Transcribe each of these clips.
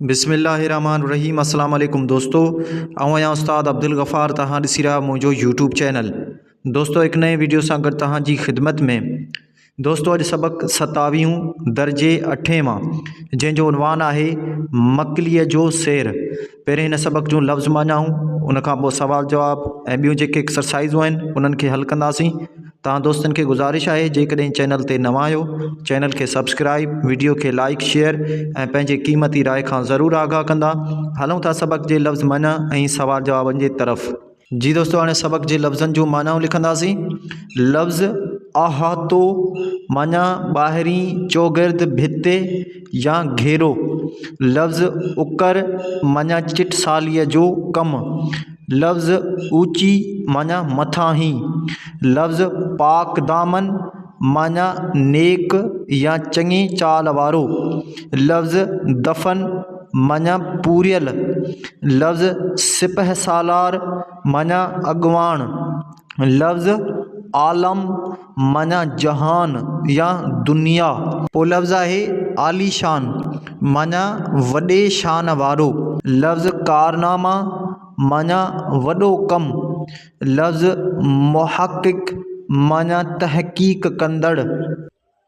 بسم الله الرحمٰن الرحيم اسلام عليڪم دوستو آئون آهيان استاد عبدالغفار توهان ڏسي رهيا منهنجو يوٽيوب چينل دوستو هڪ نئين ويڊيو سان گڏ توهان جي خدمت ۾ دوستو اڄ سبق ستاويهون درجي اٺين مان جنهن جو عنوان آهي مڪليء جو سير پهرين هن سبق جون لفظ ماڃاهون ان کان پوء سوال جواب ۽ ٻيون جيڪي ايڪسرسائزون آهن انهن کي حل ڪنداسين توهان دوستن کي گذارش آهي جيڪڏهن چينل تي نوان آهيو چينل کي سبسڪرائيب ويڊيو کي لائيڪ شيئر ۽ پنهنجي قيمتي راء کان ضرور آگاهه ڪندا هلون ٿا سبق جي لفظ منع ۽ سوال جوابن جي طرف. جي دوستو هاڻي سبق جي لفظن جون معنائون لکنداسين لفظ احاطو معنيٰ ٻاهرين چوگرد ڀتي، يا گهيرو، لفظ اڪر معنيٰ چٽساليء جو ڪم، لفظ اوچي معنيٰ مٿانهين، لفظ پاڪدامن معنيٰ نيڪ يا چڱي چال وارو، لفظ دفن معنيٰ پوريل، لفظ سپهه سالار معنيٰ اڳواڻ، لفظ عالم معنيٰ جهان يا دنيا. پولفظ آهي عاليشان معنيٰ وڏي شان وارو. لفظ ڪارناما معنيٰ وڏو ڪم. لفظ محقق معنيٰ تحقيق ڪندڙ.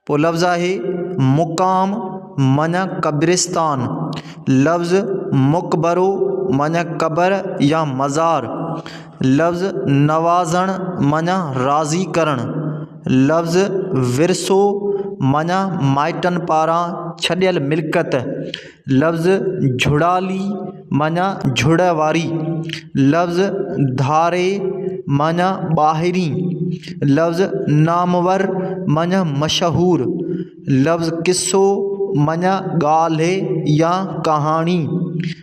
پولفظ آهي مقام معنيٰ قبرستان. لفظ مقبرو معنيٰ قبر يا مزار. لفظ نوازڻ معنيٰ راضي ڪرڻ لفظ ورثو معنيٰ مائٽن پاران ڇڏيل ملڪيت لفظ جھڙالي معنيٰ جھڙ واري لفظ ڌاري معنيٰ ٻاهرين لفظ نامور معنيٰ مشهور لفظ قصو معنيٰ ڳالهه يا ڪهاڻي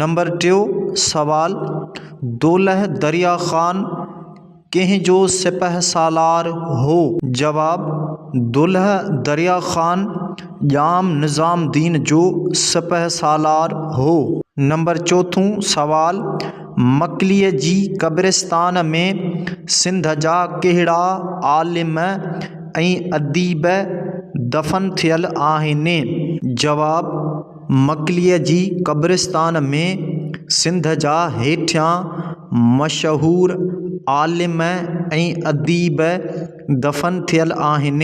نمبر ٽيون سوال، دولهه دريا خان ڪنهن جو سپهه سالار هو؟ جواب، دولهه دريا خان ڄام نظام الدين جو سپهه سالار هو. نمبر چوٿون سوال، مڪليء جي قبرستان ۾ سنڌ جا ڪهڙا عالم ۽ اديب دفن ٿيل آهن؟ جواب، مڪليء جي قبرستان ۾ سنڌ جا هيٺيان مشهور عالم ۽ اديب دفن ٿيل آهن.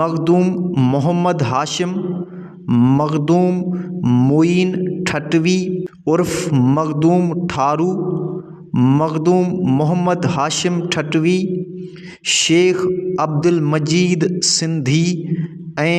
مخدوم محمد هاشم، مخدوم معين ٺٽوي عرف مخدوم ٺارو، مخدوم محمد هاشم ٺٽوي، شيخ عبدالمجيد سنڌي ۽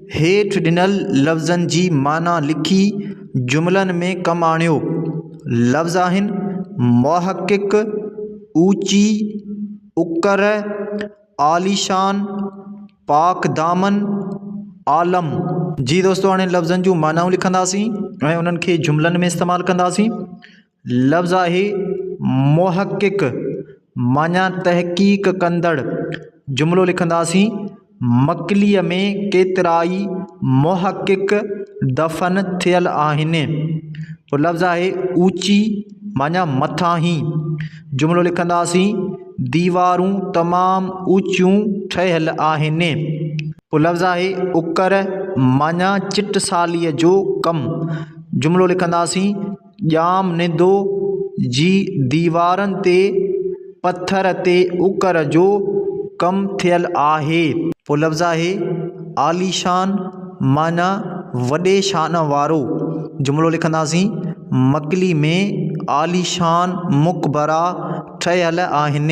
هيٺ ڏنل لفظن جي معنيٰ لکي جملن ۾ ڪم آڻيو. لفظ آهن، محقق، اوچي، اڪر، عاليشان، پاڪدامن، عالم. جي دوستو هاڻي لفظن جون معنائون لکنداسين ۽ انهن کي جملن ۾ استعمال ڪنداسين. لفظاهي محقق، معنيٰ تحقيق ڪندڙ، جملو لکنداسين، مڪليء ۾ ڪيترائي محقق دفن ٿيل آهن. پوء لفظاهي اوچي، معنيٰ مٿاهين، جملو لکنداسين، ديوارون تمام اوچيون ٺهيل آهن. پوء لفظاهي اڪر، معنيٰ چٽساليء جو ڪم، جملو لکنداسين، ڄام نندو جي ديوارن تي پٿر تي اڪر جو ڪم ٿيل آهي. پوء لفظ آهي عاليشان معنيٰ وڏي شان وارو. جملو لکنداسين، مڪلي ۾ عاليشان مقبرا ٺهيل آهن.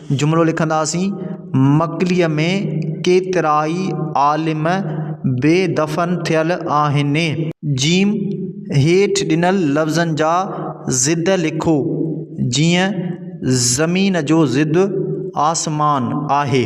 جملو لکنداسين، مڪليء ۾ ڪيترائي عالم بي دفن ٿيل آهن. ج هيٺ ڏنل لفظن جا ضد لکو، جيئن زمين جو ضد آسمان آهي.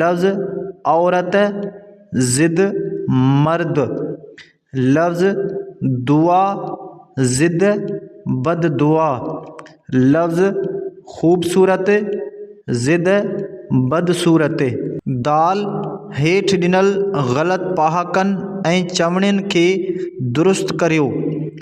لفظ عورت ضد مرد، لفظ دعا ضد بد دعا، لفظ خوبصورت ضد بد صورت. دال، هيٺ ڏنل غلط پهاڪن ۽ چوڻين کي درست ڪريو.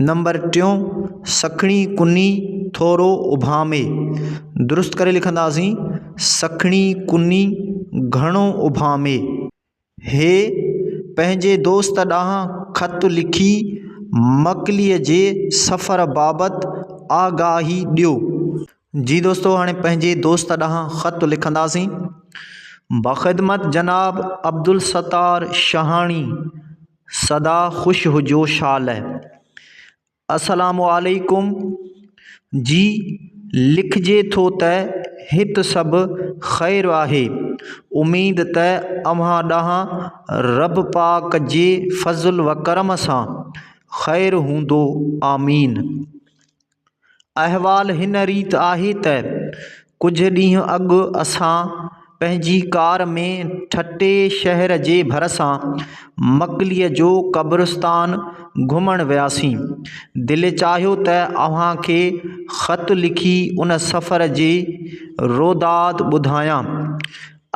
نمبر ٽيون سکڻي ڪني ٿورو اڀامي درست ڪري لکنداسين سکڻي ڪني گهڻو اڀامي هي پنهنجي دوست ڏانهن خط لکي مڪليء جي سفر بابت آگاهي ڏيو جي دوستو هاڻي پنهنجي دوست ڏانهن خط لکنداسين. بخدمت جناب عبدالستار شهاڻي سدا خوش هجو شال. السلام عليڪم جي لکجي ٿو ته هت سڀ خير آهي اميد ته اوهان ڏانهن رب پاڪ جي فضل وڪرم سان خير هوندو آمين. احوال هن ريت آهي ته ڪجهه ڏينهن اڳ اسان پنهنجي ڪار ۾ ٺٽي شهر جي ڀرسان مڪليء جو قبرستان گهمڻ وياسين. دل چاهيو ته اوهان کي خط لکي ان سفر جي روداد ٻڌايان.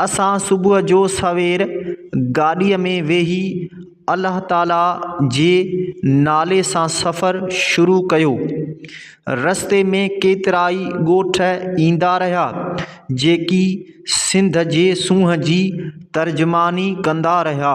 اسان صبح جو سوير گاڏيء ۾ ويهي الله تعاليٰ جي نالي سان سفر شروع ڪيو. رستي ۾ ڪيترائي ڳوٺ ايندا رهيا، جيڪي سنڌ جي سونهن جي ترجماني ڪندا رهيا.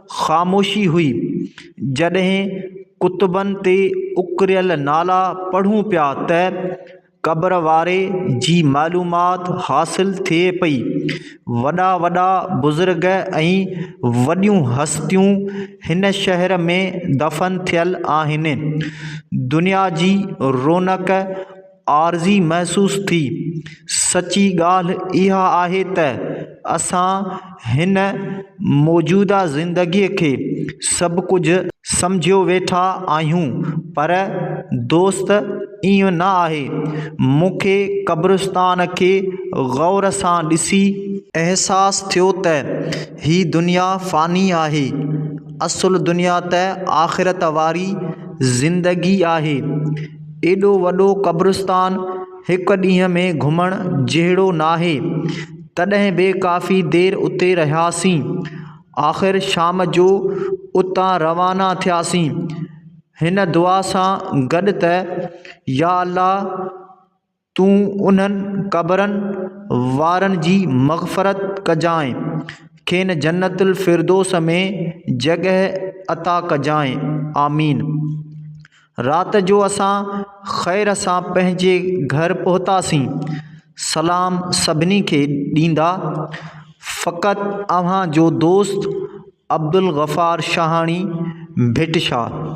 خاموشي هئي. جڏهن ڪتبن تي اڪريل نالا پڙهون پيا ته قبر واري جي معلومات حاصل ٿئي پئي. وڏا وڏا بزرگ ۽ وڏيون هستيون هن شهر ۾ دفن ٿيل آهن. دنيا جي رونق عارضي محسوس ٿي. سچي ڳالهه اها آهي ته اسان هن موجوده زندگيء کي سڀ ڪجهه سمجهيو ويٺا آهيون پر دوست ائين نه آهي. مون کي قبرستان کي غور سان ڏسي. احساس ٿيو ته هي دنيا فاني آهي. اصل دنيا ته آخرت واري زندگي آهي. ايڏو وڏو قبرستان هڪ ڏينهن ۾ گهمڻ جهڙو ناهي. تڏهن به ڪافي دير اتي رهياسين. آخر شام جو اتان روانا ٿياسين. هن دعا سان گڏ ته، يا الله! تون انهن قبرن وارن جي مغفرت ڪجانء، کين جنت الفردوس ۾ جڳهه عطا ڪجانء آمين. رات جو اسان خير سان پنهنجي گهر پهتاسين. سلام سڀني کي ڏيندا، فقط اوهان جو دوست عبدالغفار شاهاڻي ڀٽ شاهه.